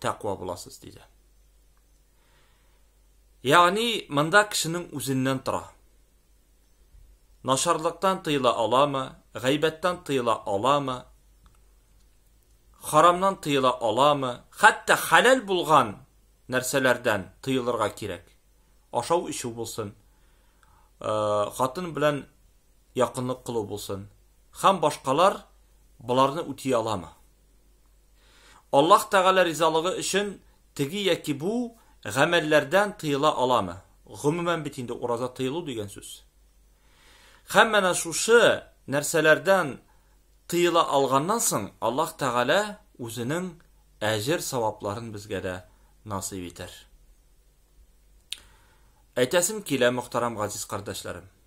тәкъва буласыз, диде. Ягъни, монда кешенең үзеннән тора. Нашарлыктан тыела аламы, гайбәттән тыела аламы, харамнан тыела аламы, хәтта хәләл булган нәрсәләрдән тыелырга кирәк. Ашау ишү булсын, э, хатын белән якынлык кылу булсын, һәм башкалар боларны үти аламы? Аллаһ Тәгалә ризалыгы өчен теге яки бу гамәлләрдән тыела аламы? Гомумән бит инде ураза тыелу дигән сүз. Һәм менә шушы нәрсәләрдән тыела алганнан соң Аллаһ Тәгалә үзенең әҗер савапларын безгә дә насыйп итәр. Әйтәсем килә, мөхтәрәм газиз кардәшләрем.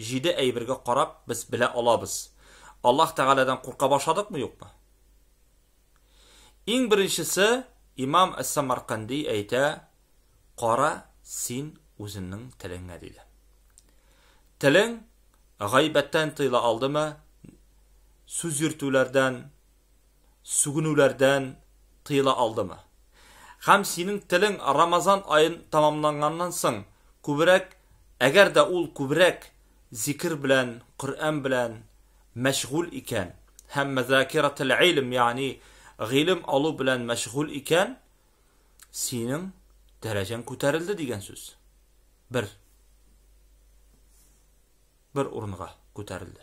Җиде әйбергә карап без белә алабыз, Аллаһ Тәгаләдән курка башладыкмы-юкмы? Иң беренчесе, имам әс-Самарканди әйтә, Кара син үзеңнең телеңә, диде. Телең гайбәттән тыела алдымы, сүз йөртүләрдән, сүгенүләрдән тыела алдымы? Һәм синең телең Рамазан аен тәмамланганнан соң күбрәк, әгәр дә ул күбрәк зикер белән, Коръән белән мәшгуль икән һәм мазакиратул-илм, ягъни гыйлем алу белән мәшгуль икән, синең дәрәҗәң күтәрелде дигән сүз. Бер бер урынга күтәрелде.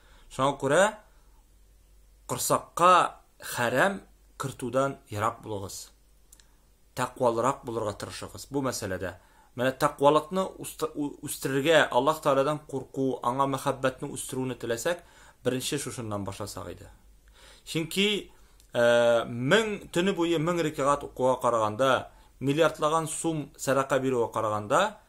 Шуңа күрә корсакка хәрәм кертүдән ерак булыгыз. Тәкъвалырак булырга тырышыгыз бу мәсьәләдә. Менә тәкъвалыкны үстерергә, Аллаһ Тәгаләдән курку, аңа мәхәббәтне үстерүне теләсәк, беренче шушыннан башласак иде. Чөнки э, мең төне буе мең рикагат укуга караганда, миллиардлаган сум сәдака бирүгә караганда,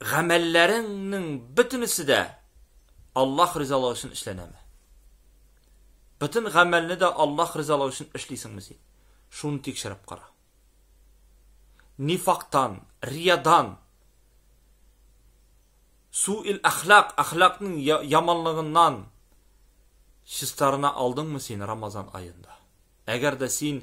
гамәлләреңнең бөтенесе дә Аллаһ ризалыгы өчен эшләнәме? Бөтен гамәлне дә Аллаһ ризалыгы өчен эшлисеңме син? Шуны тикшереп кара. Нифактан, риядан, суил әхлак, әхлакның яманлыгыннан чистарына алдыңмы син Рамазан аенда? Әгәр дә син